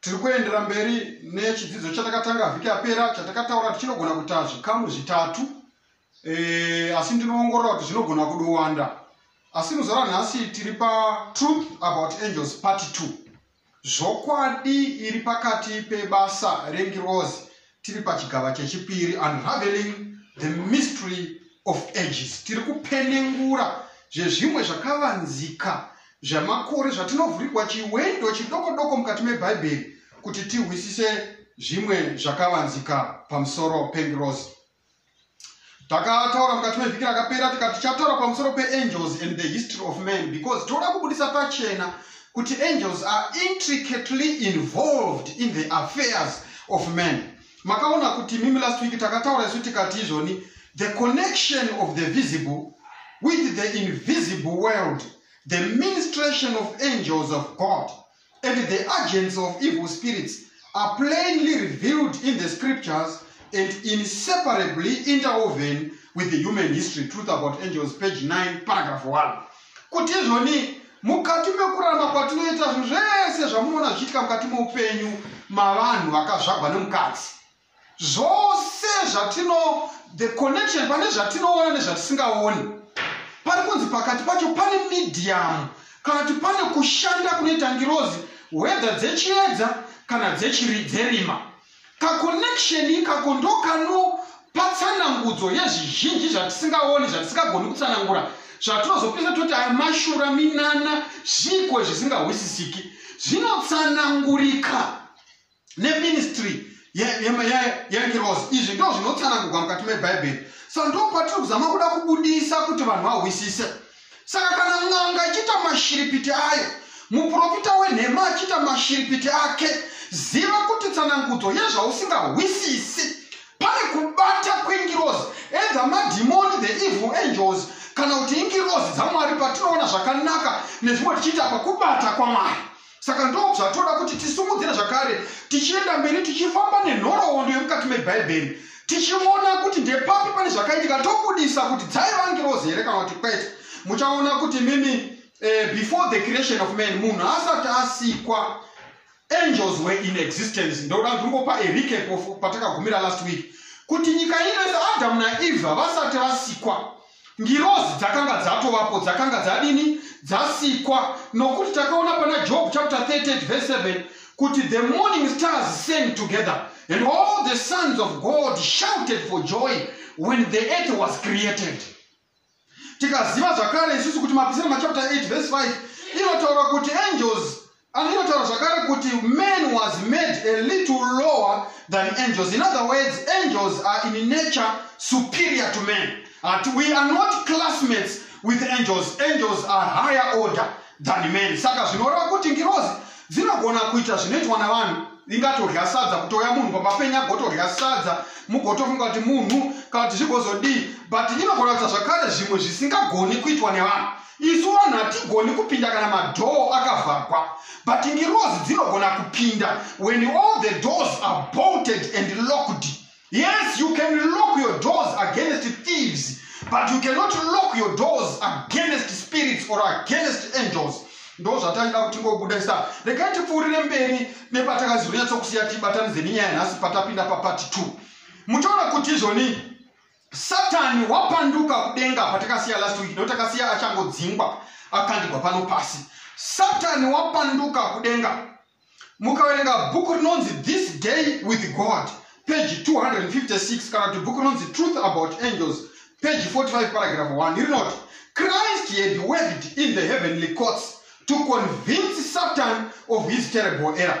Tiri kuendera mberi nechidzidzo chatakatanga vhiki yapera chatakataura kuti chinogona kuita zvikamu zvitatu e, asi ndinoongorora kuti zvinogona kudowanda asi muzuva ranhasi tiri patruth about angels part 2 zvokwadi iri pakati pebasa rengirozi tiri pachigava chechipiri unraveling the mystery of ages tiri kupenengura zvezvimwe zvakavanzika zvamakore zvatinovhurigwa chiwendo chidoko doko mukati mebhaibheri kuti tihwisise zvimwe zvakavanzika pamusoro pengirozi takataura mukati mevhiki rakapera tikati tichataura pamusoro peangels and the history of man because toda kubudisa pachena kuti angels are intricately involved in the affairs of man makaona kuti mimi last week takataura isu tikati izvoni the connection of the visible with the invisible world the ministration of angels of god and the agents of evil spirits are plainly revealed in the scriptures and inseparably interwoven with the human history truth about angels page 9 paragraph 1 kuti izvoni mukati mekuramba kwatinoita zvinhu zvese zvamunoona zvichiitika mukati meupenyu mavanhu vakazvagwa nemukadzi zvose zvatino the connection pane zvatinoona nezvatisingaoni pari kunzi pakati pacho pane medium kana kuti pane kushanda kunoita ngirozi hwedha dzechiedza kana dzerima kaconnection ikako ndokanopatsanangudzo yezvizhinji zvatisingaoni zvatisingagoni kutsanangura zvatinozopisa toti aya mashura minana zviiko zvisingahwisisiki zvinotsanangurika neministry yengirozi izvi ndo zvinotsanangurwa mukati mebhaibheri so ndo patiri kuzama kuda kubudisa kuti vanhu vahwisise saka kana n'anga ichiita mashiripiti ayo muprofita wenhema achiita mashiripiti ake ziva kuti tsanangudzo yezvausingahwisisi pane kubata kwengirozi edha madhimoni the evil angels kana kuti ingirozi dzamwari patinoona zvakanaka nezvimwe tichiita pakubata kwamwari saka ndozvatoda kuti tisimudzire zvakare tichienda mberi tichifamba nenhoroondo yemukati mebhaibheri tichiona kuti ndepapi pane zvakaitika tobudisa kuti dzaiva ngirozi here kana kuti kwete muchaona kuti mimi eh, before the creation of man munhu asati asikwa angels were in existence ndoda ndingopa erecap patakagumira last week kuti nyika ino yese adamu naevha vasati vasikwa ngirozi dzakanga dzatovapo dzakanga dzadini dzasikwa nokuti takaona pana job chapter 38 verse 7 kuti the morning stars sang together and all the sons of god shouted for joy when the earth was created tikaziva zvakare isusu kuti mapisira machapter 8 verse 5 inotaura kuti angels Anonotaura zvakare kuti man was made a little lower than angels. In other words, angels are in nature superior to men. But we are not classmates with angels. Angels are higher order than men. Saka zvinoreva kuti ngirozi dzinogona kuita zvinoitwa navanhu ingatodya sadza kutouya munhu pamapenya agotodya sadza mugotofunga kuti munhu kana kuti zvigozodii but inogona kuita zvakare zvimwe zvisingagoni kuitwa nevanhu isu vanhu hatigoni kupinda kana madhoo akavhagwa but ngirozi dzinogona kupinda when all the doors are bolted and locked yes you can lock your doors against thieves but you cannot lock your doors against spirits or against angels ndo zvataida kuti ngobuda sa regai tipfuurire mberi nepatakazonyatsokusiya tibatanidze nenyaya nhasi patapinda papati two muchaona kuti izvoni satani wapanduka kudenga patakasiya last week no takasiya achangodzingwa akandigwa pano pasi satani wapanduka kudenga mukaverenga bhuku rinonzi this day with god page 256 kana kuti bhuku rinonzi truth about angels page 45 paragraph 1 rinoti christ had worked in the heavenly courts to convince satan of his terrible error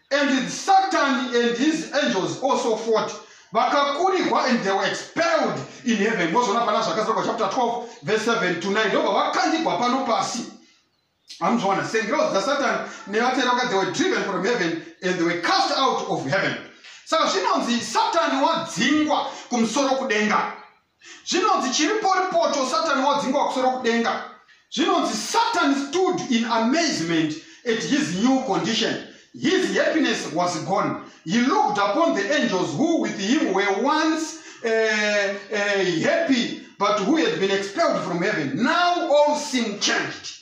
And Satan and his angels also fought vakakurigwa and they were expelled in heaven mozona pana zvakazarwa chapter 12 verse 7 to 9 ndobva vakandigwa pano pasi amzviona sengirozi dzasatan nevatera vaka they were driven from heaven and they were cast out of heaven saka zvinonzi satani wadzingwa kumusoro kudenga Zvinonzi chiriporipocho Satani wadzingwa kusoro kudenga. Zvinonzi Satan stood in amazement at his new condition. His happiness was gone. He looked upon the angels who with him were once uh, uh, happy but who had been expelled from heaven. Now all seemed changed.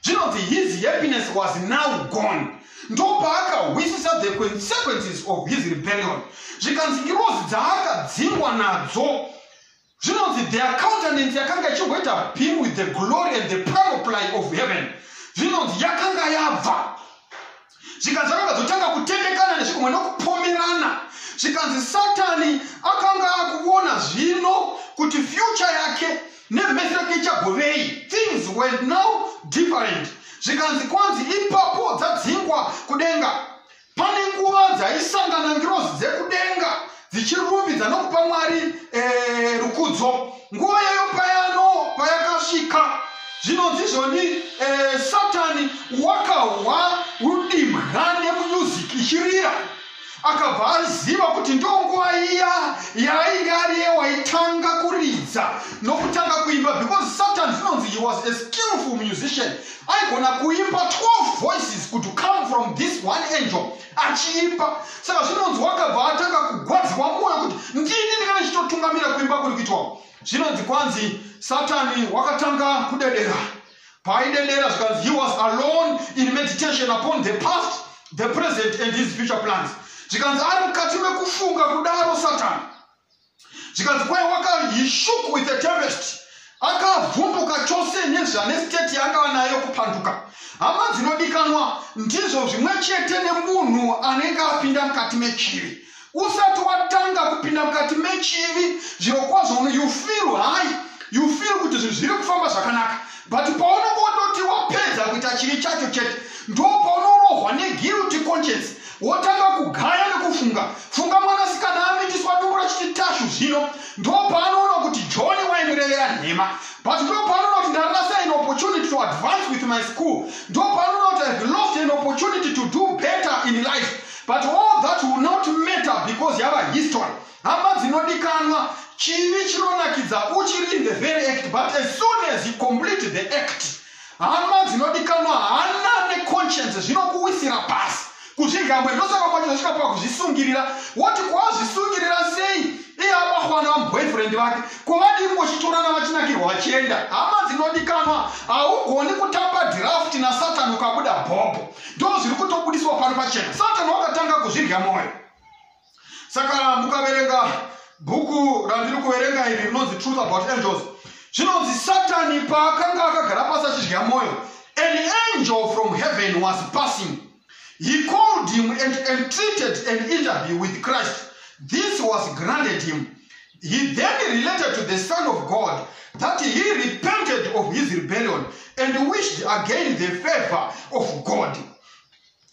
zvinonzi his happiness was now gone ndopaakahwisisa the consequences of his rebellion zvikanzi ngirozi dzaakadzingwa nadzo zvinonzi their countenance yakanga ichingoita beam with the glory and the panoply of heaven zvinonzi yakanga yabva zvikanzi akanga dzotanga kutendekana nezvikumwe nokupomerana zvikanzi satani akanga akuona zvino kuti fyucha yake nemhesi yake ichagovei things were now different zvikanzi kwanzi ipapo dzadzingwa kudenga pane nguva dzaisangana ngirozi dzekudenga dzichirumbidza nokupa mwari eh, rukudzo nguva yayo payano payakasvika zvinonzi zvoni eh, satani wakahwa rudimwa nemuyuziki ichirira akabva aziva kuti ndonguva iya yaainge ariye waitanga kuridza nokutanga kuimba because satan zvinonzi he was a skillful musician aigona kuimba 12 voices could come from this one angel achiimba saka zvinonzi wakabva atanga kugwadziwa mwoyo kuti ndini ndinga ndichitotungamira kuimba kuri kuitwa zvinonzi kwanzi satani wakatanga kudedera paaidedera zvikanzi he was alone in meditation upon the past the present and his future plans zvikanzi ari mukati mekufunga kudaro satani zvikanzi kwai waka he shook with a tempest akavhunduka chose nezvane state yaangava nayo kupanduka hama dzinodikanwa ndizvo zvimwe chete nemunhu anenge apinda mukati mechivi usati watanga kupinda mukati mechivi zvirokwazvo you feel high you feel kuti zvinhu zviri kufamba zvakanaka but paunongototi wapedza kuita chivi chacho chete ndo paunorohwa neguilty conscience wotanga kugaya nekufunga funga mwanasikana amitiswa duru achiti tashu zvino ndo paanoona kuti john waindirevera nhema but ndo paanoona kuti ndarasa an opportunity to advance with my school ndo paanoona kuti ihave lost an opportunity to do better in life but all that will not matter because yava history Hama dzinodikanwa, chivi chinonakidza uchiri in the very act but as soon as you complete the act, hama dzinodikanwa, hana neconscience zvinokuwisira pasi kuzvigambwe ndosaka kwacho zvasvika pakuzvisungirira woti kwazvisungirira sei iye abahwana vamuboyfriend vake kovadii kungochitorana vachinakirwa vachienda hama dzinodikanwa haugoni kutamba dhirafti nasatani ukabuda bhobho ndo zviri kutobudiswa pano pachena satani wakatanga kuzvirya mwoyo saka mukaverenga bhuku randiri kuverenga iri rinonzi truth about angels zvinonzi satani paakanga akagara pasi achidya mwoyo an angel from heaven was passing he called him and entreated an interview with christ this was granted him he then related to the son of god that he repented of his rebellion and wished again the favor of god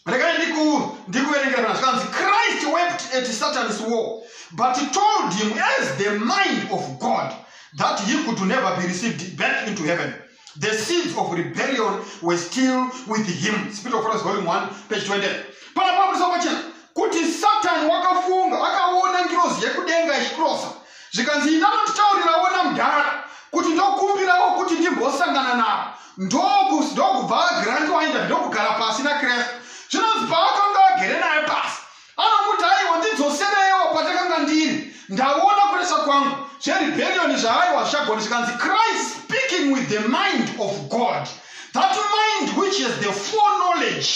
regai ndiku ndikuverengera pana zvikanzi christ wept at satan's war but he told him as the mind of god that he could never be received back into heaven the seeds of rebellion were still with him spirit of Prophets, volume 1 page 20 pana pamuriswa pachena kuti satani wakafunga akaona ngirozi yekudenga ichikrosa zvikanzi inanotitaurirawo namdhara kuti ndokumbirawo kuti ndimbosangana navo ndokus ndokubva agranti wainda ndokugara pasi nakristu zvinonzi paakanga agere naye pasi anomuti aiwa ndidzosereiwo patakanga ndiri ndaona kuresa kwangu zverebherioni zvaaiwa zvichagoni zvikanzi christ speaking with the mind of god that mind which has the full knowledge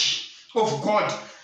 of god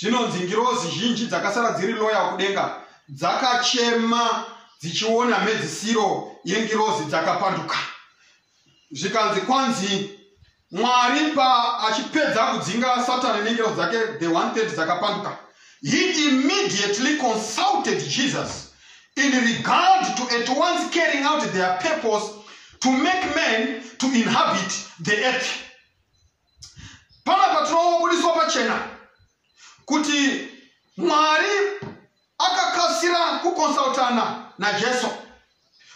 Zvinonzi ngirozi zhinji dzakasara dziri loyal kudenga dzakachema dzichiona mhedzisiro yengirozi dzakapanduka zvikanzi kwanzi mwari paachipedza kudzinga satani nengero dzake the 130 dzakapanduka he immediately consulted jesus in regard to at once carrying out their purpose to make men to inhabit the earth pana patinobudiswa pachena kuti mwari akakasira kukonsultana najesu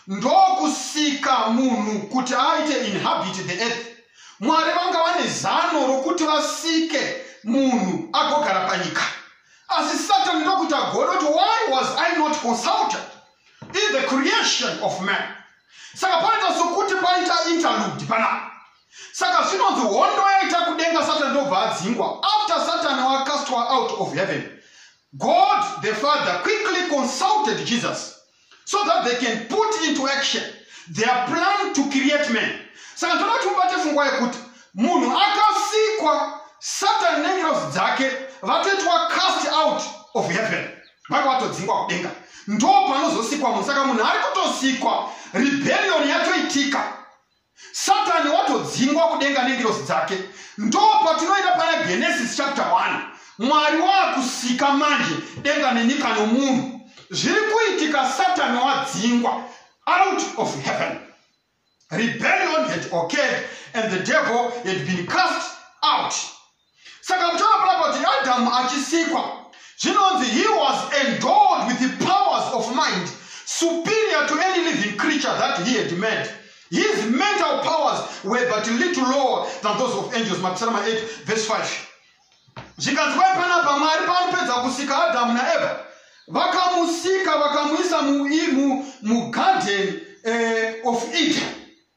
ndokusika munhu kuti aite inhabit the earth mwari vanga vane zano rokuti vasike munhu agogara panyika asi satani ndokuti agona kuti why was i not consulted in the creation of man saka panoita sokuti paita interlude panapa saka zvinonzi hondo yaita kudenga satani ndobva adzingwa after satani wacastwa out of heaven god the father quickly consulted jesus so that they can put into action their plan to create man saka ndoda kuti mubate fungwa yekuti munhu akasikwa satani nengirozi dzake vatoitwa cast out of heaven vanga vatodzingwa kudenga ndo panozosikwa munhu saka munhu ari kutosikwa rebellion yatoitika satani watodzingwa kudenga nengirosi dzake ndo patinoenda pana genesis chapter 1 mwari waakusika manje denga nenyika nomunhu zviri kuitika satani wadzingwa out of heaven rebellion had occurred and the devil had been cast out saka muchona pona kuti adamu achisikwa zvinonzi he was endowed with the powers of mind superior to any living creature that he had made his mental powers were but little lower than those of angels mapisarama 8 verse 5 zvikanzi kwai panapa mwari paanopedza kusika adamu naeva vakamusika vakamuisa mugadhen mu, mu eh, of eden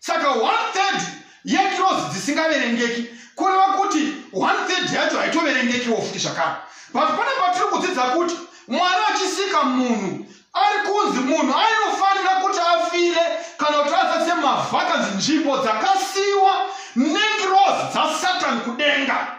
saka one third yeclose dzisingaverengeki kureva kuti one third yacho haitoverengekiwo futi zvakare but pane patiri kudzidza kuti mwana achisika munhu ari kunzi munhu ainofanira kuti afire kana kuti asatse mavhakanzi nzvimbo dzakasiyiwa neclose dzasatan kudenga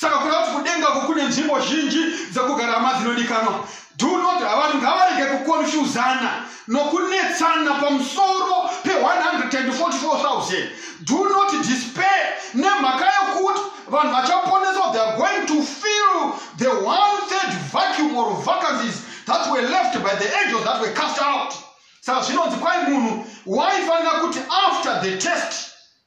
saka kuda kuti kudenga uko kune nzvimbo zhinji dzekugara hama dzinodikanwa do not vanhu ngavarege kukonfuzana nokunetsana pamusoro pe144000 do not despair nemhaka yokuti vanhu vachaponeswa they are going to fill the one third vacuum or vacancies that were left by the angels that were cast out saka zvinonzi kwai munhu waifanira kuti after the test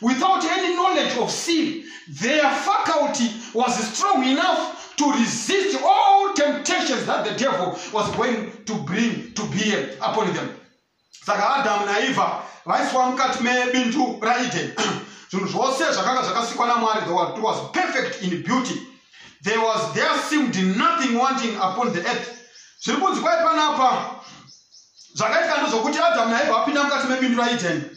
without any knowledge of sin, their faculty was strong enough to resist all temptations that the devil was going to bring to bear upon them. Saka Adamu naEva vaiswa mukati mebindu raEden. Zvinhu zvose zvakanga zvakasikwa naMwari, the world was perfect in beauty. There was there seemed nothing wanting upon the earth. Zviri kunzi kwai panapa zvakaitika ndozvokuti Adamu naEva vapinda mukati mebindu raEden.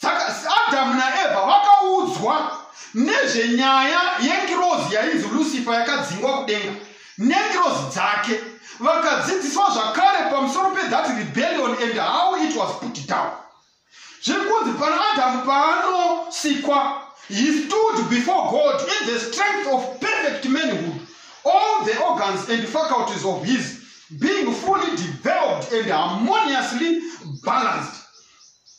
saka adamu naevha vakaudzwa nezvenyaya yengirozi yainzi lucifer yakadzingwa kudenga nengirozi dzake vakadzidziswa zvakare pamusoro pethat rebellion and how it was put down zviri kunzi pana adamu paanosikwa he stood before god in the strength of perfect manhood all the organs and faculties of his being fully developed and harmoniously balanced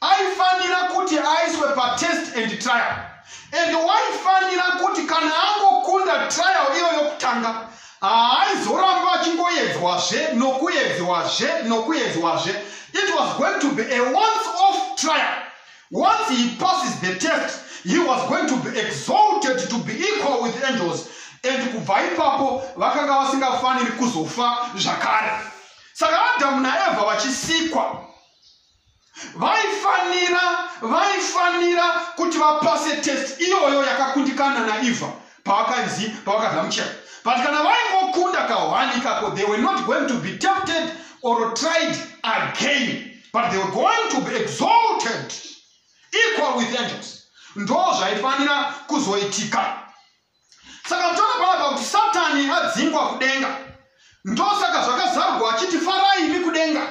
aifanira kuti aiswe patest and trial and waifanira kuti kana angokunda trial iyo yokutanga haaizoramba achingoedzwazve nokuedzwazve nokuedzwazve it was going to be a once off trial once he passes the test he was going to be exalted to be equal with angels and kubva ipapo vakanga vasingafaniri kuzofa zvakare saka adhamu naevha vachisikwa vaifanira vaifanira kuti vapase test iyoyo yakakundikana naiva pavakanzi pavakagamuchira but kana vaingokunda kahwani ikako they were not going to be tempted or tried again but they were going to be exalted equal with angels ndo zvaifanira kuzoitika saka toda panapa kuti satani adzingwa kudenga ndosaka zvakazarurwa achiti farai imi kudenga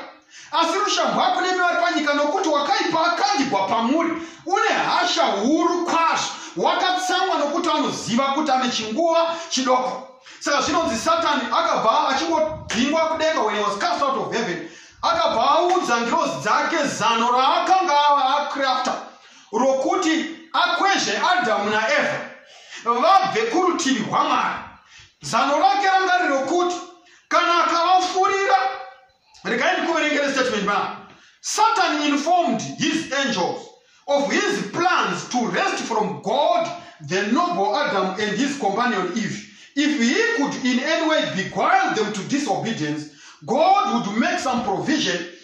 asi rushamhu rwako nemi vari panyika nokuti wakaipa akandigwa pamuri une hasha huru kwazvo wakatsamwa nokuti anoziva kuti ane chinguva chidoko saka zvinonzi satani akabva achingodhingwa kudenga when he was cast out of heaven akabva audza ngirozi dzake zano raakanga ava acrafter rokuti akwezve adhamu naevha vabve kurutivi rwamwari zano rake ranga riri rokuti kana akavafurira regai ndikuverengere statement ma satan informed his angels of his plans to rest from god the noble adam and his companion eve if he could in any way beguile them to disobedience god would make some provision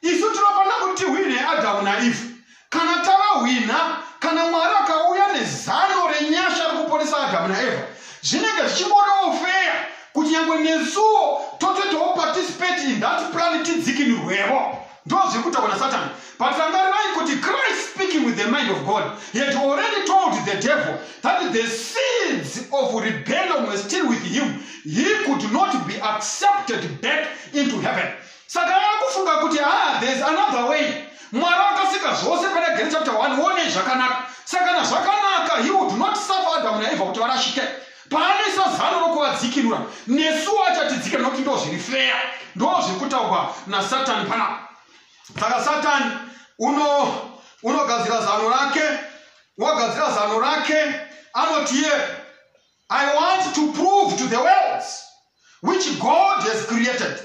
isu tinofanira kuti hwine adamu naivhu kana tavahwina kana mwari akauya nezano renyasha rekuponesa adamu naevha zvinenge zvichimbonoofeya kuti nyangwe nesuwo totoitawo participate in that plan tidzikinirwevo ndo zvekuita kuna satani but rangarirai kuti christ speaking with the mind of god he had already told the devil that the seeds of rebellion were still with him he could not be accepted back into heaven saka ava kufunga kuti haa there's another way mwari akasika zvose pana gen chapter 1 wonei zvakanaka saka na zvakanaka he would not suffer adamu naevha kuti varashike paanoisa zano rokuvadzikinura nesuwo achatidzika nokuti ndo zviri feya ndo zviri kutaurwa nasatani panapa saka satani uno unogadzira zano rake wagadzira zano rake anotiye I want to prove to the worlds which God has created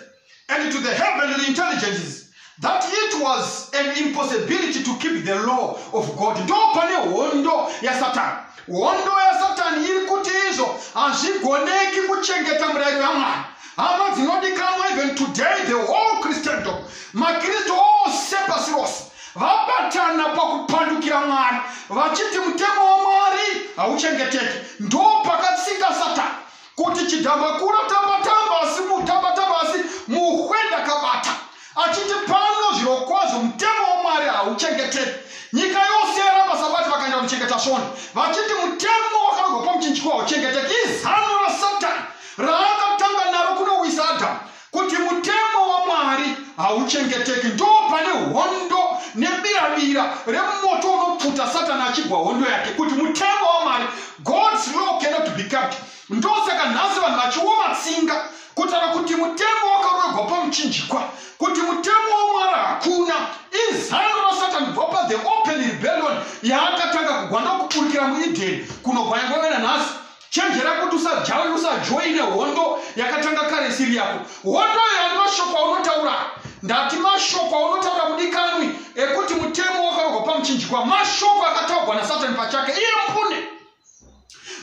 and to the heavenly intelligences that it was an impossibility to keep the law of God. Ndo pane hondo yasatani. Hondo yasatani iri kuti izvo hazvigoneki kuchengeta murayiro yaMwari. Hama dzinodikanwa even today the whole Christendom, maKristu ose pasi rose vabatana pakupandukira mwari vachiti mutemo wamwari hauchengeteki ndo pakatsika satani kuti chidhambakura tambatamba asi mutambatamba asi muhwe ndakabata achiti pano zvirokwazvo mutemo wamwari hauchengeteki nyika yose yaramba sabati vakaenda kuchengeta svoni vachiti mutemo wakarogwa pamuchinjiko hauchengeteki izano rasatani raakatanga naro kunowisa adhamu kuti mutemo wamwari hauchengeteki ndo pane hondo nebiravira remoto unopfuta satani achigwa hondo yake kuti mutemo wamwari god's law cannot be kept ndosaka nhasi vanhu vachioma tsinga kutaura kuti mutemo wakaroegwa pamuchinjikwa kuti mutemo wamwari hakuna izano rasatani bva pa the open rebellion yaakatanga kugwa ndokuburikira muedeni kunobva yangovena nhasi chenjera kuti usajawe usajoine hondo yakatanga kare isiri yako hondo yaani mashoko aunotaura ndati mashoko aunotaura mudikanwi ekuti mutemo wakarogwa pamuchinjikwa mashoko akataurwa nasatani pachake iye mpune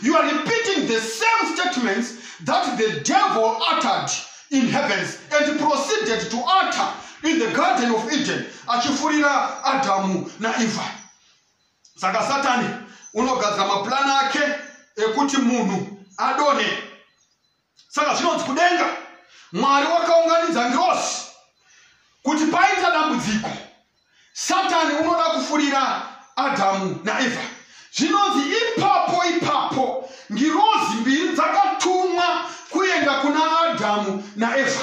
you are repeating the same statements that the devil uttered in heavens and proceeded to utter in the garden of eden achifurira adhamu naevha saka satani unogadzira mapurani ake ekuti munhu adone saka zvinonzi kudenga mwari wakaunganidza ngirosi kuti paita dambudziko satani unoda kufurira adhamu naevha zvinonzi ipapo ipapo ngirozi mbiri dzakatumwa kuenda kuna adhamu naevha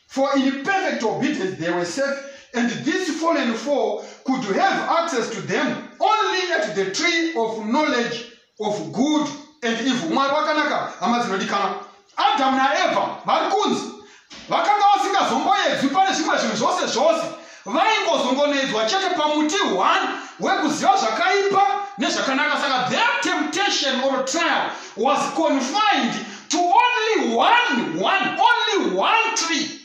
For in perfect obedience they were safe, and this fallen four could have access to them only at the tree of knowledge of good and evil. Mwari wakanaka, hama dzinodikana. Adamu naEva vari kunzi vakanga vasingazomboedzwi pane zvimwe zvinhu zvose zvose vaingozongonedzwa chete pamuti one wekuziva zvakaipa nezvakanaka saka their temptation or trial was confined to only one one only one tree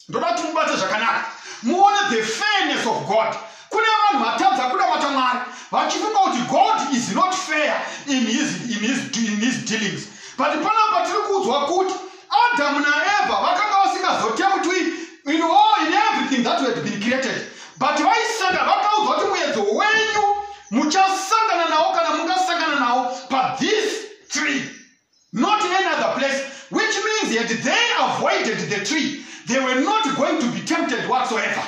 ndoda kuti mubate zvakanaka muone the fairness of god kune vanhu vatadza kunamata mwari vachifunga kuti god is not fair in his, in his, in his dealings but panapa tiri kuudzwa kuti Adamu naEvha vakanga vasingazotembwi in all in everything that had been created but vaisanga vakaudzwa kuti muedzo wenyu muchasangana nawo kana mungasangana nawo pa this tree not any other place which means that they avoided the tree they were not going to be tempted whatsoever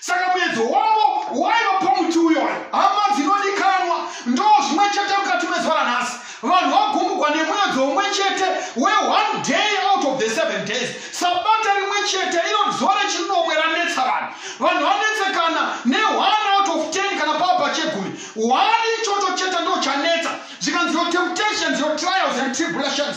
saka muedzo wavo waiva pamuti uyoyo hama dzinodikanwa ndo zvimwe chete mukati mezuva ranhasi vanhu vagumbugwa nemuedzo umwe chete we one day out of the seven days sabata rimwe chete iro zuva rechinomwe ranetsa vanhu vanhu vanetsekana ne one out of ten kana pava pachegumi one ichocho chete ndo chanetsa zvikanzi your temptations your trials and tribulations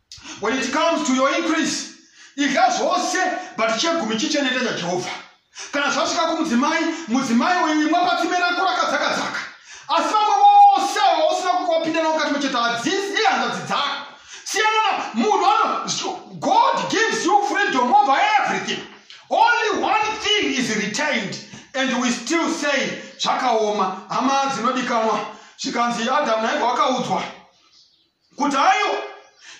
when it comes to your increase idya zvose but chegumi chichenete chajehovha kana zvasvika kumudzimai mudzimai uyu imwa patsime rako rakadzakadzaka asi vamwe vose ava usina kuwapinda navo kati mucheta hadzisi ihanzvadzi dzako siyana munhu ano god gives you freedom over everything only one thing is retained and we still say zvakaoma hama dzinodikanwa zvikanzi adamu naivha wakaudzwa kudhayo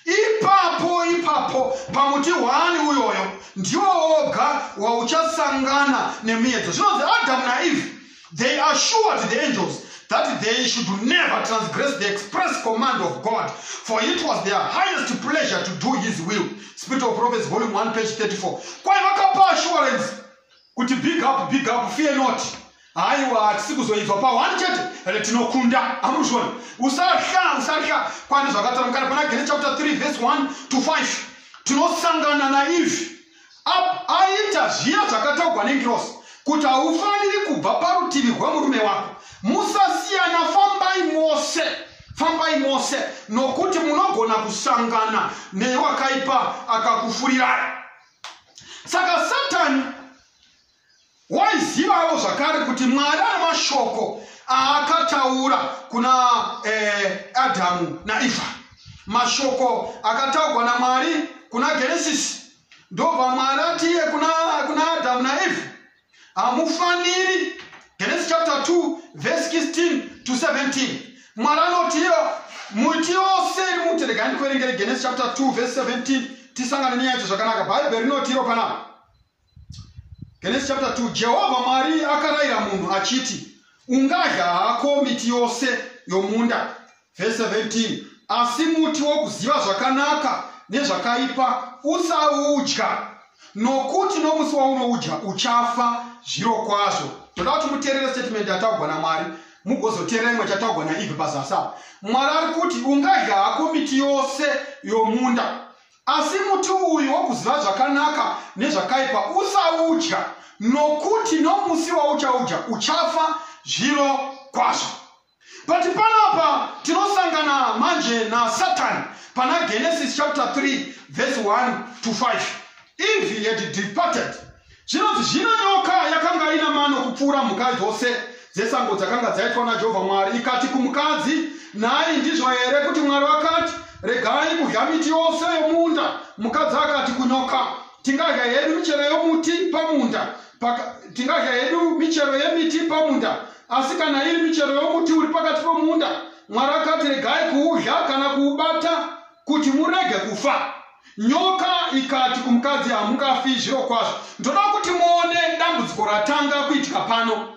ipapo ipapo pamuti hwani uyoyo ndiwo woga wauchasangana nemiedzo zvinonzi adam naeve they assured the angels that they should never transgress the express command of god for it was their highest pleasure to do his will spirit of prophets volume 1 page 34 kwaye vakapa assurance kuti big up big up fear not haiwa hatisi kuzoibva pawani chete ende tinokunda amuzvona usahla usahla kwani zvakatora mukana pana gene chapter 3 verse 1 to 5 tinosangana naivi aita zviya zvakataugwa nengirosi kuti haufaniri kubva parutivi rwemurume wako musasiyana fambai mose fambai mose nokuti munogona kusangana newakaipa akakufurirai saka satani waizivawo zvakare kuti mwari ane mashoko aakataura kuna eh, adhamu naivha mashoko akataurwa namwari kuna genesisi ndobva mwari atiye kuna, kuna adhamu naivha hamufaniri genesis chapter 2 verse 16 to 17 mwari anoti iyo muti yose iri mute regai ndikuverengere genesis chapter 2 verse 17 tisangane nyaya yacho zvakanaka bhaibheri rinoti iro panapa genesis chapter 2 jehovha mwari akarayira munhu achiti ungadya hako miti yose yomunda Verse 17 asi muti wokuziva zvakanaka nezvakaipa usaudya nokuti nomusi waunoudya uchafa zviro kwazvo toda kuti muterere statement yataugwa namwari mugozoterera imwe chataugwa naive pazasi apa mwari ari kuti ungadya hako miti yose yomunda asi muti uyu wokuziva zvakanaka nezvakaipa usaudya nokuti nomusi wauchaudya uchafa zviro kwazvo but panapa tinosangana manje nasatani pana genesis chapter 3 verse 1 to 5 eve had departed zvinonzi zvino nyoka yakanga ina mano kupfuura mhuka dzose dzesango dzakanga dzaitwa najehovha mwari ikati kumukadzi nhai ndizvo here kuti mwari vakati regai kudya miti yose yomunda mukadzi akati kunyoka tingadya hedu michero yomuti pamunda tingadya hedu michero yemiti pamunda asi kana iri michero yomuti uri pakati pomunda mwari akati regai kuudya kana kuubata kuti murege kufa nyoka ikati kumukadzi hamungafi zviro kwazvo ndoda kuti muone dambudziko ratanga kuitika pano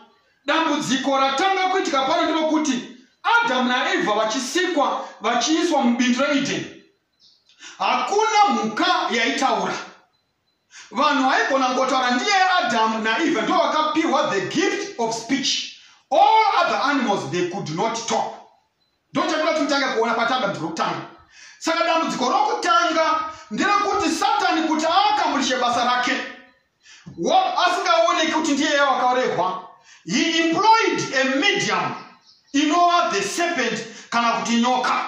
dambudziko ratanga kuitika pano ndinokuti adamu naevha vachisikwa vachiiswa mubindu reedeni hakuna mhuka yaitaura vanhu vaigona ngotaura ndiye adamu naeva ndo vakapiwa the gift of speech all other animals they could not talk ndo chatoda tinotanga kuona patanga mdzi rokutanga saka dambudziko rokutanga nderekuti satani kuti aakamurishe basa rake asingaoneki kuti ndiye yawakaurehwa he employed a medium inova the serpent kana kuti nyoka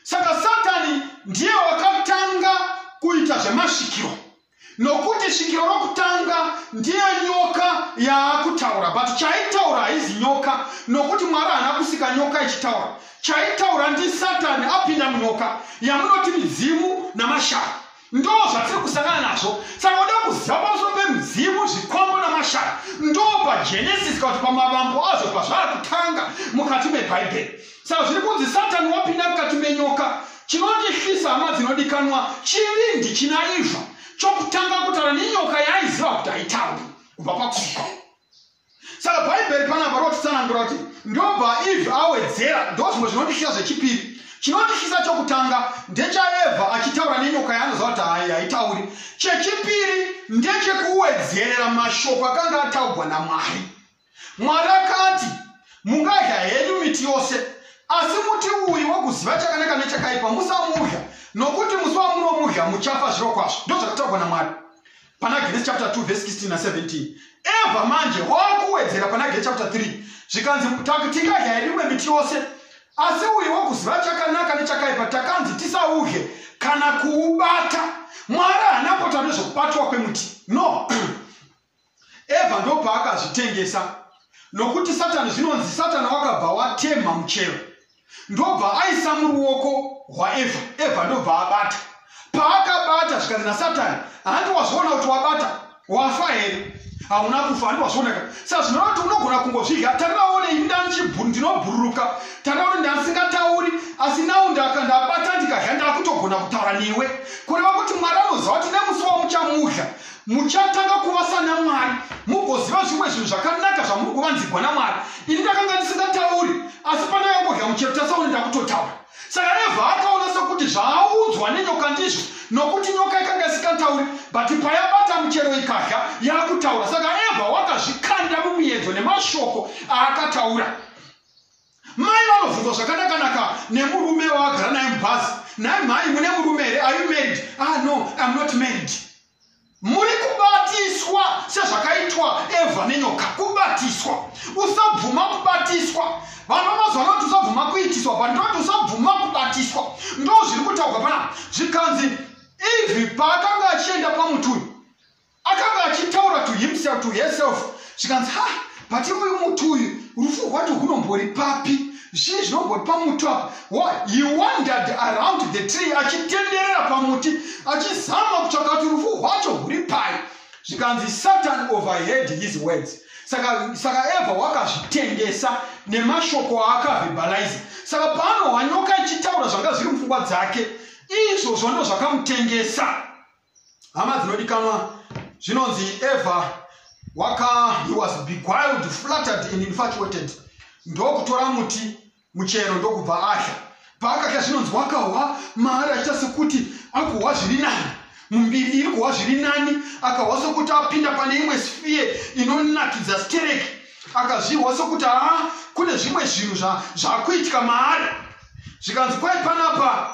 saka satani ndiye wakatanga kuita zvemasvikiro nokuti svikiro rokutanga ndiye nyoka yaakutaura but chaitaura haizi nyoka nokuti mwari haana kusika nyoka ichitaura chaitaura ndisatani apinda munyoka yamunoti midzimu namashara ndo zvatiri kusangana nazvo saka uda kuziva pamusoro pemidzimu zvikombo namashara ndo pagenesis kana kuti pamavambo azvo pazvava kutanga mukati mebhaibheri saka zviri kunzi satani wapinda mukati menyoka chinondihlisa hama dzinodikanwa chivi ndichina iva chokutanga kutaura nenyoka yaaiziva kuti haitauri kubva pakuka saka bhaibheri panapa rinotitsanangura kuti ndobva eve awedzera ndo zvimwe zvinotityisa zvechipiri chinotityisa chokutanga ndechaevha achitaura nenyoka yaanoziva kuti hai haitauri chechipiri ndechekuwedzerera mashoko akanga ataugwa namwari mwari akati mungadya henyu miti yose asi muti uyu wokuziva chakanaka nechakaipa musamudya nokuti musi wamunomudya muchafa zviro kwazvo ndo zvakataurwa namwari pana Genesis chapter 2 verse 16 na 17 ebva manje wakuwedzera pana Genesis chapter 3 zvikanzi takutikaja yerimwe miti yose asi uyu wokuziva chakanaka nechakaipa takanzi tisauhe kana kuubata mwari haana kota nezvokubatwa kwemuti no ebva ndopaakazvitengesa nokuti satani zvinonzi satani wakabva watemha muchero ndobva aisa muruoko rwaevha evha ndobva abata paakabata zvikanzi nasatani handi wazviona kuti wabata wafa here hauna kufa handi wazviona ka sa zvinova kuti unogona kungozvidya tarivaone ini ndandinobhururuka tarivaone ndandisingatauri asi nau ndabata ndikadya ndakutogona kutaura newe kureva kuti mwari anoziva kuti nemusi wamuchamudya muchatanga kuva sana mwari mugoziva zvimwe zvinhu zvakanaka zvamuri kuvanzigwa namwari ini ndakanga ndisingatauri asi pandakangodya muchepta sauni ndakutotaura saka evha akaona sokuti zvaaudzwa nenyoka ndizvo nokuti nyoka ikanga isingatauri but payabata muchero ikadya yakutaura saka evha wakazvikanda mumuyedzo nemashoko aakataura Mai vanobvunzwa zvakanakanaka nemurume wavagara naye mubhazi. Nhai mhai mune murume here? Are you married? Ah no, I'm not married. Muri kubatiswa sezvakaitwa Eva nenyoka. Kubatiswa. Usabvuma kubatiswa. Vanhu vamazuva vanoti usabvuma kuitiswa, vanhu vanoti usabvuma kubatiswa. Ndozviri kutaurwa pana zvikanzi Eve paakanga achienda pamuti uyu akanga achitaura to himself to herself zvikanzi ha but uyu muti uyu rufu rwacho hunombori papi zvii zvinombori pamuti apa he wandered around the tree achitenderera pamuti achizama kutsvaka kuti rufu rwacho huri pai zvikanzi satan overhead his words saka saka eva wakazvitengesa nemashoko aakavhibhaliza saka paanohwanyoka ichitaura zvanga zviri mupfungwa dzake izvozvo ndo zvakamutengesa hama dzinodikanwa zvinonzi eva waka he was beguiled flattered and infatuated ndokutora muti muchero ndokubva adya paakadya zvinonzi wakahwa maari achiita sekuti akuhwa zviri nani mumbiri iri kuhwa zviri nani akahwa sokuti apinda pane imwe sfiye inonakidza stereki akazvihwa sokuti haa kune zvimwe zvinhu zvakuitika maari zvikanzi kwai panapa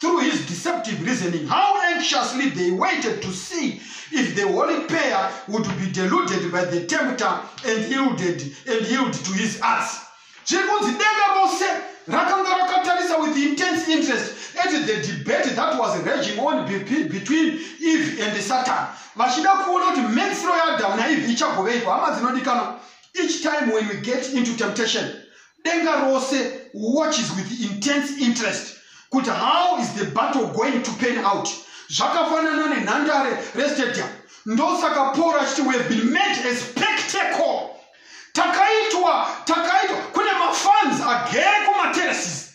through his deceptive reasoning how anxiously they waited to see if the holy pair would be deluded by the tempter and yielded and yield to his arts zviri kunzi denga rose rakanga rakatarisa with intense interest at the debate that was raging on between eve and satan vachida kuona kuti medzisiro yaadhamu naeve ichagoveiko hama dzinodikanwa each time when we get into temptation denga rose watches with intense interest kuti how is the battle going to pan out zvakafanana nenhandare restadium ndosaka paul achiti we have been made a spectacle takaitwa takaitwa kune mafans agere kumaterraces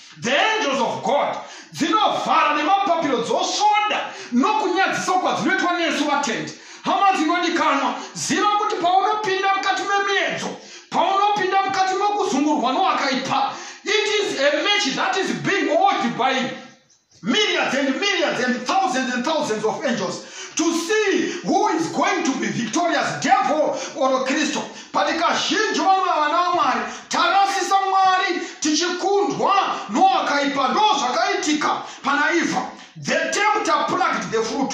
the angels of god dzinovhara nemapapiro dzosvoda nokunyadzisa kwadzinoitwa nesu vatendi hama dzinodikanwa ziva kuti paunopinda mukati memiedzo paunopinda mukati mekuzungurwa nowakaipa it is a match that is being old by millions and millions and thousands and thousands of angels to see who is going to be victorious devil or kristu but kazhinji vamwe vana vamwari tarasisa mwari tichikundwa noakaipa ndo zvakaitika pana ivha the tempter plucked the fruit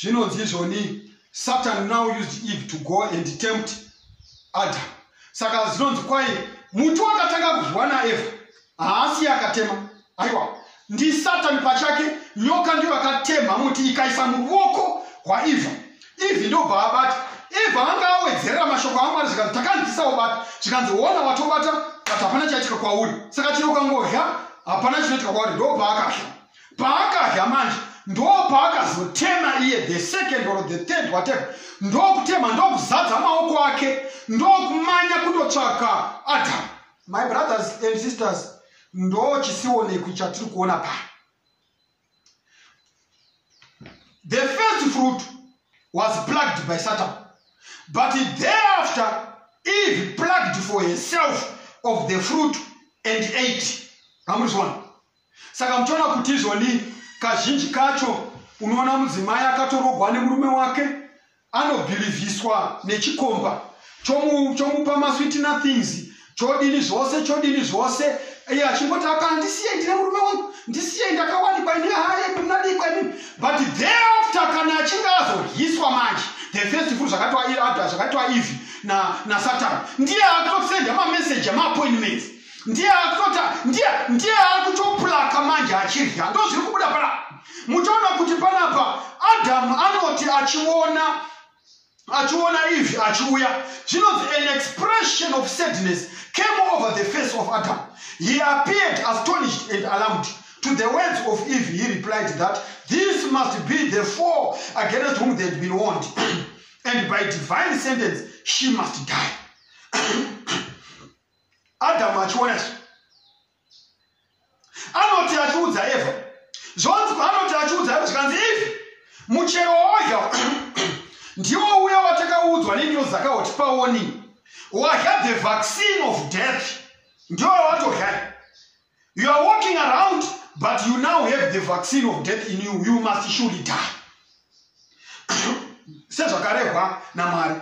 zvinonzi izvoni satan now used eve to go and tempt adam saka zvinonzi kwai muti wakatanga kudyiwa naeva haasi yakatema aiwa ndisatan pachake nyoka ndiyo akatemha muti ikaisa muruoko rwaeva eve ndobva abata eva anga awedzerera mashoko amwari zvikanzi takanzisa ubata zvikanzi ona watobata but hapana chaitika kwauri saka chero ukangodya hapana chinoitika kwauri ndobva akasha paakadya manje ndopaakazotema iye the second or the third whatever ndokutema ndokuzadza maoko ake ndokumanya kundotsvaka adam my brothers and sisters ndochisionekwi chatiri kuona pa the first fruit was plucked by satan but thereafter eve plucked for herself of the fruit and ate amuzviona saka muchiona kuti izvoni kazhinji kacho unoona mudzimai akatorogwa nemurume wake anobhilivhiswa nechikomba chomupa maswiti nothings chodini zvose chodini zvose iye achingoti apa ndisiye ndine murume wangu ndisiye ndakawanikwa ini haye munadikwa ini but thereafter kana achinge azohiswa manje the first fru zvakatoa ivhi nasatani ndiye akutosenda mameseji amaappointments ndiye akutota ndiye ndiye akutoplaka manje achidya ndo zviri kubuda pana muchaona kuti panapa adamu anoti achiona achiona ivi achiuya zvinonzi an expression of sadness came over the face of adam he appeared astonished and alarmed to the words of eve he replied that this must be the four against whom they had been warned and by divine sentence she must die adamu achiona izvi anoti achiudza eva zvonzi anoti achiudza eva zvikanzi ivi muchero wawadya ndiwo uya watakaudzwa nenyozi dzakauti paoni wadya the vaccine of death ndiwo watodya you are walking around but you now have the vaccine of death in you you must surely die sezvakarehwa namwari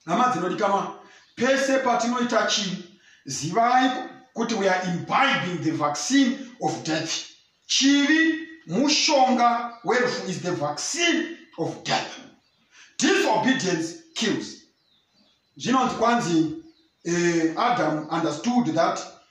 hama dzinodikanwa pese patinoita chinhu zivai kuti we are imbibing the vaccine of death chivi mushonga werufu is the vaccine of death disobedience kills zvinonzi kwanzi uh, adam understood that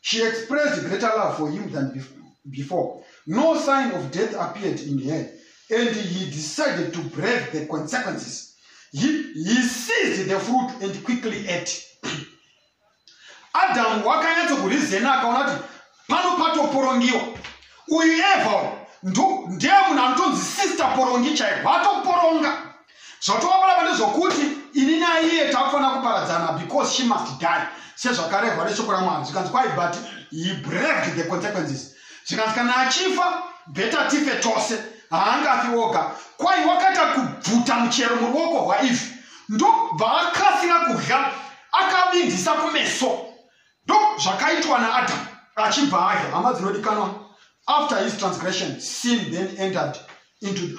She expressed greater love for him than before. No sign of death appeared in her, and he decided to brave the consequences. He, he seized the fruit and quickly ate. Adam wakanyatso kurizena akaona kuti pano patoporongiwa uyu eva ndiye munhu anotonzi sister porongi chaivo vatoporonga zvotovaparava ndezvokuti ini naiye takufanira kuparadzana because she must die sezvakarehwa neshoko ramwari zvikanzi kwai but he braved the consequences zvikanzi kana achifa beta tife tose haangafi woga kwai wakaita kubvuta muchero muruoko rwaivi ndobva akasira kudya akavindisa kumeso ndo zvakaitwa naadamu achibva adya hama dzinodikanwa after his transgression sin then entered into the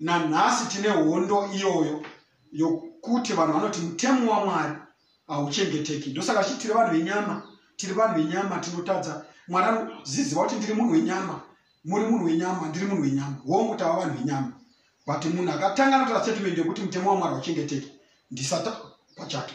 nanhasi tine hondo iyoyo yokuti vanhu vanoti mutemo wamwari hauchengeteki ndosaka chi tiri vanhu venyama tiri vanhu venyama tinotadza mwari anoziziva kuti ndiri munhu wenyama muri munhu wenyama ndiri munhu wenyama hongu tava vanhu venyama but munhu akatanga anotora statement yekuti mutemo wamwari hauchengeteki ndisata pachake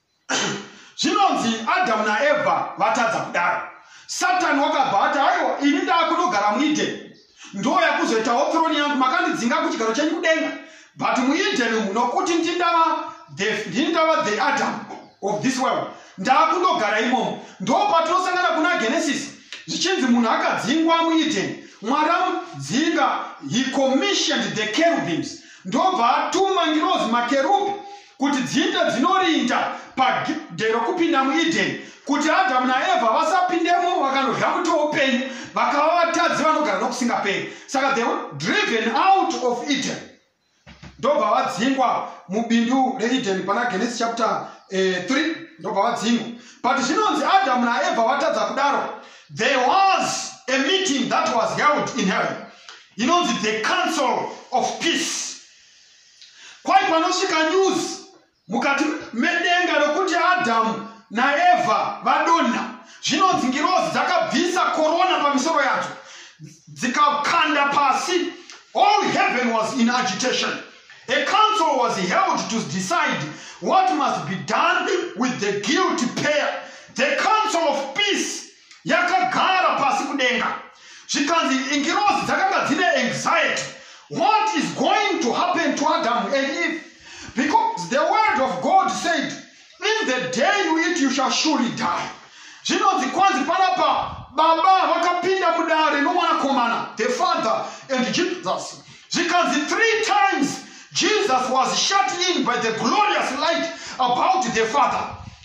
zvinonzi adhamu naevha vatadza kudaro satani wakabva ati aiwa ini ndakunogara muedheni ndo yakuzoitawo throni yangu makandidzinga kuchigaro chenyu kudenga but muedheni umu nokuti ndindava the, ndindava the adam of this world ndakunogara imomo ndo patinosangana kuna genesis zvichinzi munhu akadzingwa muedheni mwari amudzinga he commissioned the cherubims ndobva atuma ngirozi makerubi kuti dziite dzinorinda pagedhe rokupinda muedheni kuti adhamu naevha vasapindemo vakanodya muti woupenyu vakava vatadzi vanogara nokusingaperi saka they were driven out of eden ndobva vadzingwa mubindu reedeni pana genesis chapter 3 eh, ndobva vadzingwa but zvinonzi adhamu naevha vatadza kudaro there was a meeting that was held in heaven inonzi the council of peace kwai panosvika news mukati medenga rokuti adhamu naevha vadonha zvinonzi ngirozi dzakabvisa korona pamisoro yadzo dzikakanda pasi all heaven was in agitation a council was held to decide what must be done with the guilty pair the council of peace yakagara pasi kudenga zvikanzi ingirozi dzakanga dzine anxiety what is going to happen to adam and eve because the word of god said in the day you eat you shall surely die zvinonzi kwanzi panapa baba vakapinda mudare nomwanakomana the father and jesus zvikanzi three times jesus was shut in by the glorious light about the father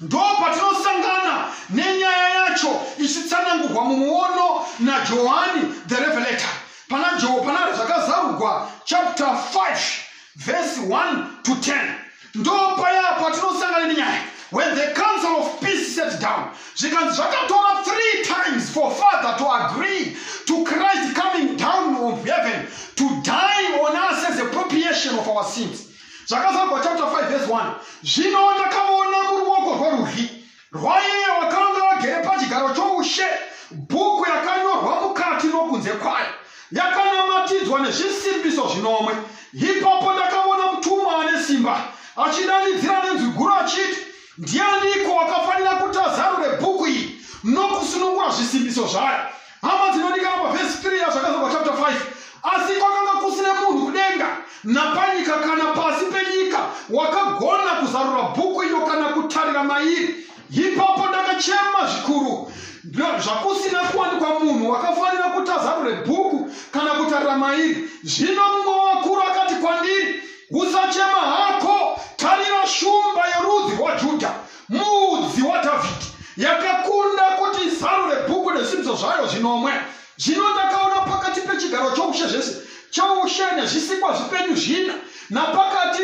Ndopatinosangana nenyaya yacho ichitsanangurwa mumuono naJohani the Revelator pana Joe pana zvakazarugwa chapter 5 verse 1 to 10 ndopaya patinosangana nenyaya when the council of peace sat down zvikanzi zvakatora three times for father to agree to christ coming down of heaven to die on us as a propitiation of our sins zvakazarwa chapter 5 verse 1 zvino ndakavona kuruoko rworudyi rwaiye wakanga vagere pachigaro choushe bhuku yakanyorwa mukati nokunze kwayo yakanamatidzwa nezvisimbiso zvinomwe ipapo ndakavona mutumwa ane simba achidanidzira nenzwi guru achiti ndianiko wakafanira kuti azarure bhuku iyi nokusunungura zvisimbiso zvayo hama dzinodikana pavhesi 3 yazvakazogwa chapter 5 asi kwakanga kusine munhu kudenga napanyika kana pasi penyika wakagona kuzarura bhuku iyo kana kutarira mairi ipapo ndakachema zvikuru zvakusina kuwanikwa munhu wakafanira kuti azarure bhuku kana kutarira mairi zvino mumwe wakuru akati kwandiri usachema hako tarira shumba yerudzi rwajudha muudzi wadhavhidhi yakakunda kuti izarure bhuku nezvimbiso zvayo zvinomwe zvino ndakaona pakati pechigaro choushe zvese choushe nezvisikwa zvipenyu zvina napakati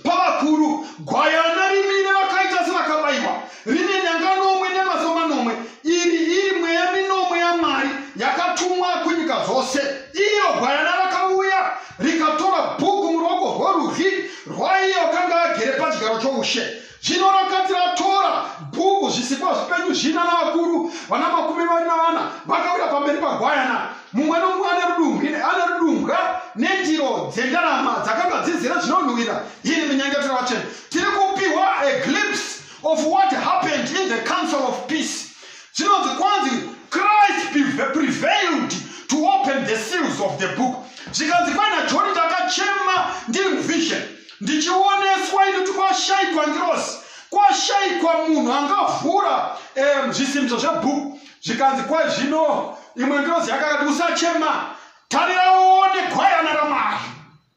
pavakuru gwayana rimire vakaita sevakabayiwa rine nyanga nomwe nemaso manomwe iri iri mweya minomwe yamwari yakatumwa kunyika dzose iyo gwayana rikatora bhuku muruoko rworudyi rwaiye wakanga agere pachigaro choushe zvino rakati ratora bhuku zvisikwa zvipenyu zvina navakuru vana makumi vari navana vakawira pamberi pagwayana mumwe nomumwe ane rudumbwi ane rudumbwa nendiro dzendarama dzakanga dzizere zvinonhuwira iri minyengetero yacho tiri kupiwa a glimpse of what happened in the council of peace Zvinonzi kwanzi Christ prevailed to open the seals of the book. Zvikanzi kwaina John ndakachema ndiri muvision ndichioneswa ini kuti kwashaikwa ngirosi kwashaikwa munhu angavhura um, zvisimbiso zvebhuku zvikanzi kwai zvino imwe ngirosi yakakati usachema tarira uone gwayana ramwari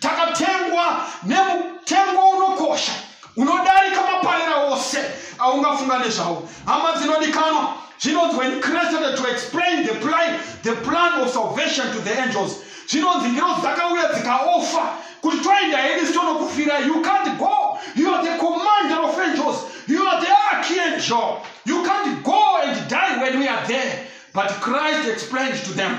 takatengwa nemutengo unokosha unodarika maparera ose aungafunga nezvawo hama dzinodikanwa zvinonzi when christ started to explain the plan, the plan of salvation to the angels zvinonzi ngirozi dzakauya dzikaofa kuti toenda hedu sitonokufira you can't go you are the commander of angels you are the archangel you can't go and die when we are there but christ explained to them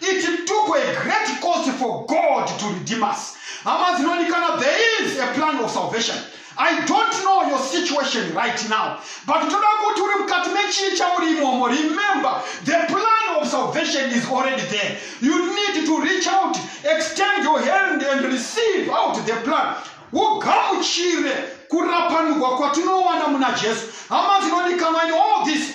It took a great cost for God to redeem us. Hama dzinonikana, there is a plan of salvation. I don't know your situation right now, but toda kuti uri mukati mechii chauri imomo. Remember, the plan of salvation is already there. You need to reach out, extend your hand and receive out the plan. Ugamuchire kurapanurwa kwatinowana muna Jesu. Hama dzinodikanwa in all this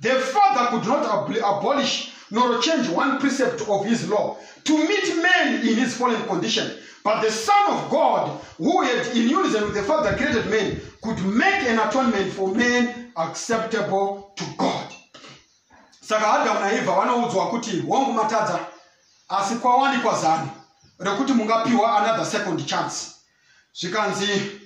The father could not abli- abolish nor change one precept of his law to meet man in his fallen condition. But the Son of God, who had in unison with the Father created man, could make an atonement for man acceptable to God. saka adamu naevha vanoudzwa kuti wangu matadza asi kwawanikwa zano rekuti mungapiwa another second chance zvikanzi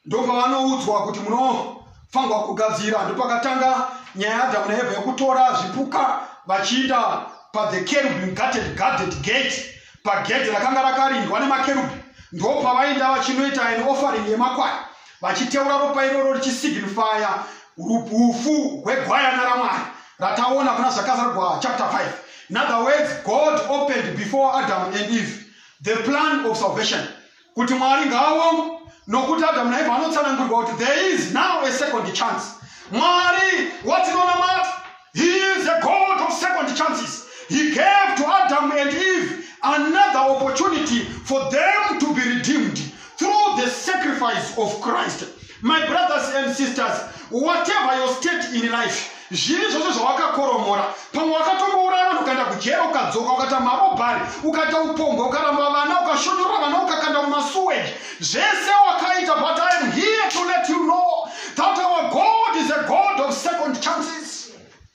ndopavanoudzwa kuti munofanirwa kugadzira ndopakatanga nyaya yaadhamu naevha yekutora zvipuka vachiita pathe kerubim gated guarded gate pagedhi rakanga rakarindwa nemakerubhi ndopavainda vachinoita an offering yemakwai vachiteura ropa iroro richisignifya ufu hwegwayana ramwari rataona kuna zvakazarwa chapter 5 in other words god opened before adam and eve the plan of salvation kuti mwari ngaaongo nokuti adamu naevha vanotsanangurwa kuti there is now a second chance mwari watinonamata he is a god of second chances he gave to adam and eve another opportunity for them to be redeemed through the sacrifice of christ My brothers and sisters, whatever your state in life, zvivi zvose zvawakakoromora pamwe wakatombouraya vanhu ukaenda kujera ukadzoka ukaita marobhari ukaita upombwe ukaramba vana ukashonyorora vana ukakanda mumasuweji zvese wakaita but i am here to let you know that our god is a god of second chances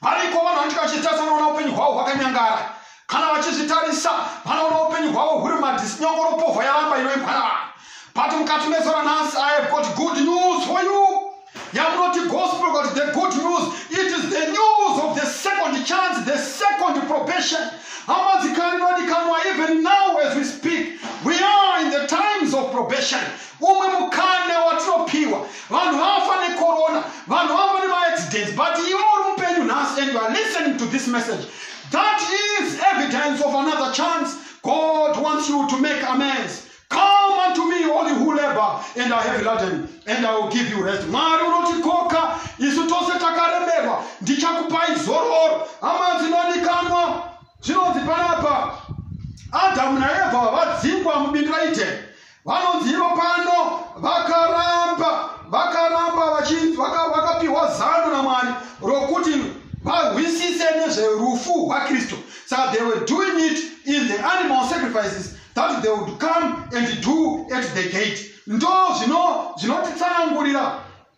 variko vanhu vanenge vachitarisa vanoona upenyu hwavo hwakanyangara kana vachizvitarisa vanoona upenyu hwavo huri madhisi nyongoropovha yaramba inoimbwa navanhu but mukati mezora nhasi i have got good news for you yamunoti gospel but the good news it is the news of the second chance the second probation amadzikani nodikanwa even now as we speak we are in the times of probation umwe mukana watinopiwa vanhu vafa necorona vanhu vafa nemaaccidents but iwe uri mupenyu nhasi and youare listening to this message that is evidence of another chance god wants you to make amends come unto me all you who labor and are heavy laden and i will give you rest mwari unotikoka isu tose takaremerwa ndichakupai zororo hama dzinodikanwa zvinonzi panapa adamu naevha vadzingwa mubindu raiteni vanonzi ivo pano vakaramba vakaramba vachinzi vaka- vakapiwa zano namwari rokuti vahwisise nezverufu rwakristu saka they were doing it in the animal sacrifices that they would come and do at the gate ndo zvino- zvinotitsanangurira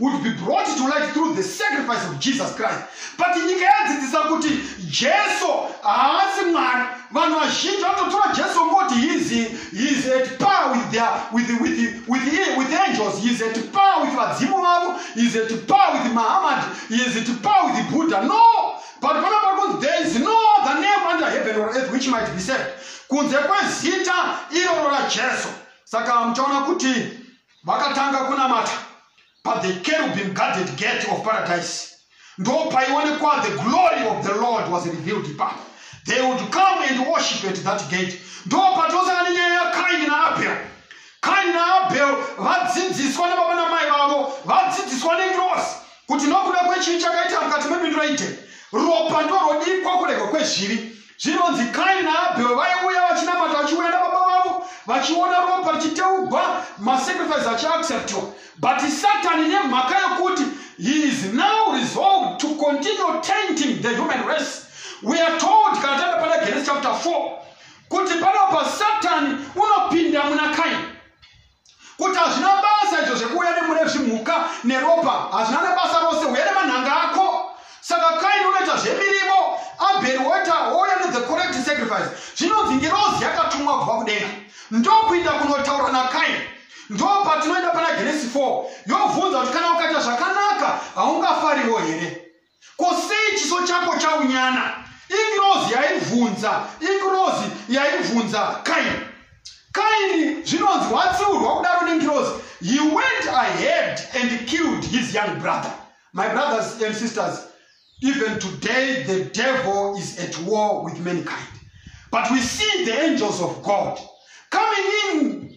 would be brought to light through the sacrifice of jesus christ but nyika yadzidzisa kuti jesu haasi mwari vanhu vazhinji vanototora jesu ngoti heis at par with, their, with, with, with, with, with angels heis at par with vadzimu vavo heis at par with mahamad heis at par with buddha no but pana pari kunzi there is no the name under heaven or earth which might be said kunze kwezita iroro rajesu saka muchaona kuti vakatanga kunamata pathe kerubim guarded gate of paradise ndopaiwonekwa the glory of the lord was revealed ipapo they would come and worship at that gate ndopatosana nenyaya yakaini naabhel kaini naabhel vadzidziswa nababa namai vavo vadzidziswa nengirosi kuti nokuda kwechii chakaita mukati mebindu raite ropa ndorodiikwa kuregwa kwezvivi zvinonzi kaini naabhero vaiuya vachinamata vachiuya nababa vavo vachiona ropa richiteugwa masacrifice achiacceptwa but satani nemhaka yokuti he is now resolved to continue tainting the human race we are told kana taenda pana genesis chapter 4 kuti panopa satani unopinda muna kaini kuti hazvina basa izvo zvekuuya nemune zvimhuka neropa hazvina nebasa rose uye nemanhanga ako saka kaini unoita zvemirivo abheri woita wouya nethe correct sacrifice zvinonzi ngirozi yakatumwa kubva kudenga ndokuinda kunotaura nakaini ndo patinoenda pana genesi 4 yobvunza kuti kana ukaita zvakanaka haungafariwo here Ko sei chiso chako chaunyana? Ingirozi yaibvunza, ingirozi yaibvunza Kaini. Kaini zvinonzi watsiurwa kudaro nengirozi. He went ahead and killed his young brother. My brothers and sisters, even today the devil is at war with mankind. But we see the angels of God coming in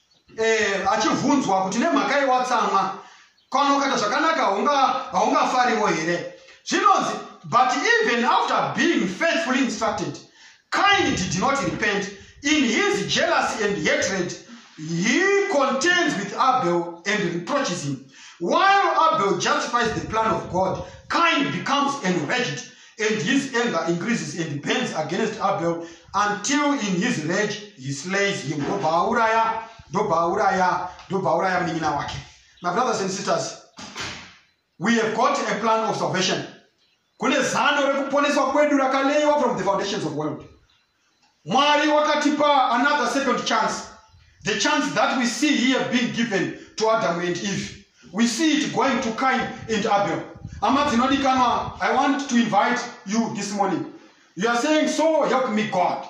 eh, achivhunzwa kuti nemhaka yewatsamwa kana ukaita zvakanaka haungafariwo here zvinonzi but even after being faithfully instructed kind did not repent in his jealousy and hatred he contends with abel and reproaches him while abel justifies the plan of god kind becomes enraged and his anger increases and burns against abel until in his rage he slays him ndobva auraya ndobva auraya ndobva auraya munin'ina wake my brothers and sisters we have got a plan of salvation kune zano rekuponeswa kwedu rakaleiwa from the foundations of world Mwari wakatipa another second chance. The chance that we see here being given to Adam and Eve. We see it going to Cain and Abel. Hama dzinodikanwa, I want to invite you this morning. You are saying, so help me God.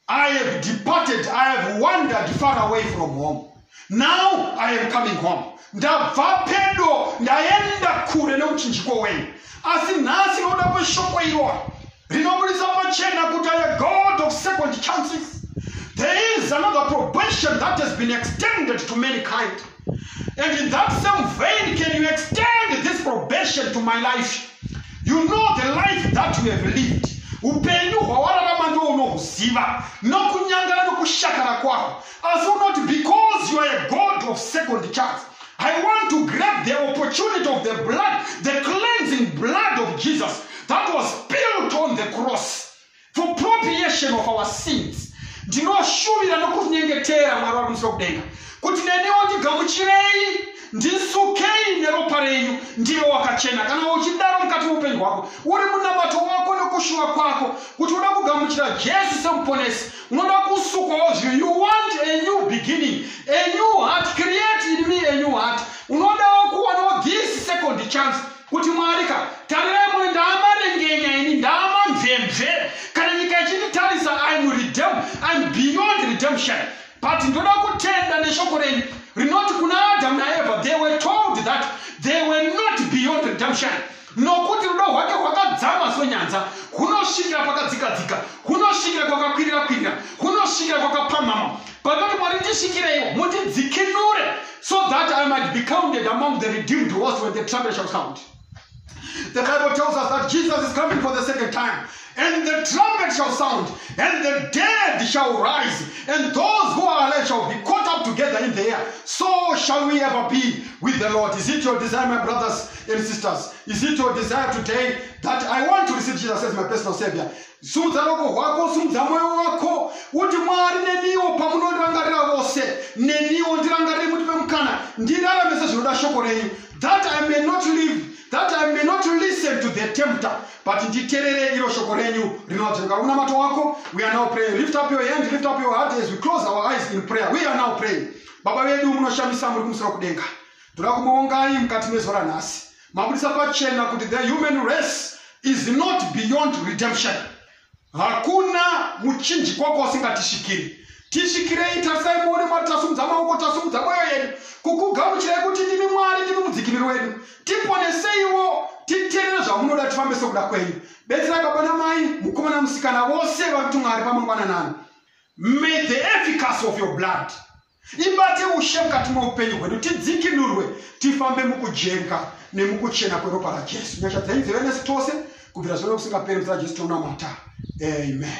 I have departed, I have wandered far away from home. Now I am coming home. Ndabva pedo, ndaenda kure neuchinjiko wenyu. Asi nhasi noda kweshoko iroro. rinoburitsa pachena kuti aya god of second chances there is another probation that has been extended to mankind and in that same vein can you extend this probation to my life you know the life that you have lived upenyu hwawararama ndo unohuziva nokunyangara nokushakara kwahwo asi unoti because you are a god of second chance I want to grab the opportunity of the blood, the cleansing blood of Jesus that was spilled on the cross for propitiation of our sins. ndinoshuvira nokunyengetera mwari wari kumusiro kudenga kuti neniwo ndigamuchirei ndisukei neropa renyu ndive wakachena kana uchidaro mukati meupenyu hwako uri munabato wako nokushuva kwako kuti uda kugamuchira jesu semuponesi unoda kusukwawo zvimwe you want a new beginning a new heart create in me a new heart unodawo kuwanawo this second chance kuti mwari ka tarirai mune ndaamarengenya ini ndaamamvemve kana nyika ichinditarisa im redem im beyond redemption but ndoda kutenda neshoko renyu rinoti kuna adamu naeva they were told that they were not beyond redemption nokuti rudo rwake rwakadzama sonyanza hunosvikira pakadzikadzika hunosvikira kwakakwirira kwirira hunosvikira kwakapamhama panoti mwari tisvikireiwo mutidzikinure so that i might be counted among the redeemed was when the trumpet shall sound the bible tells us that jesus is coming for the second time And the trumpet shall sound, and the dead shall rise, and those who are alive shall be caught up together in the air. So shall we ever be with the Lord. Is it your desire, my brothers and sisters? Is it your desire today that I want to receive Jesus as my personal Savior? simudza roko rwako simudza mwoyo wako uti mwari neniwo pamunondirangarira vose neniwo ndirangarire muti pemukana ndirarame sezvinoda shoko renyu that i may not live that I may not listen to the tempter, but nditerere iro shoko renyu rinoadzoka unamato wako we are now praying lift up your hand lift up your heart as we close our eyes in prayer we are now praying baba vedu munoshamisa muri kumusoro kudenga toda kumuongai mukati mezuva ranhasi mabudisa pachena kuti the human race is not beyond redemption hakuna muchinjikwa kwausingatisvikiri tisvikirei tarisai muone mwari tasumudza maoko tasumudza mwoyo yedu kukugamuchirai kuti ndimi mwari ndimi mudzikiniri wedu tiponeseiwo titerere zvamunoda tifambe sokuda kwenyu betsera baba namai mukomana musikana vose vari kuti mwari pamangwananani may the efficacy of your blood ibate ushe mukati meupenyu hwedu tidzikinurwe tifambe mukujenga nemukuchena kweropa rajesu nyasha dzenyu dzive nesu tose kubvira zvino nekusingaperi muzira jesu tonamata amen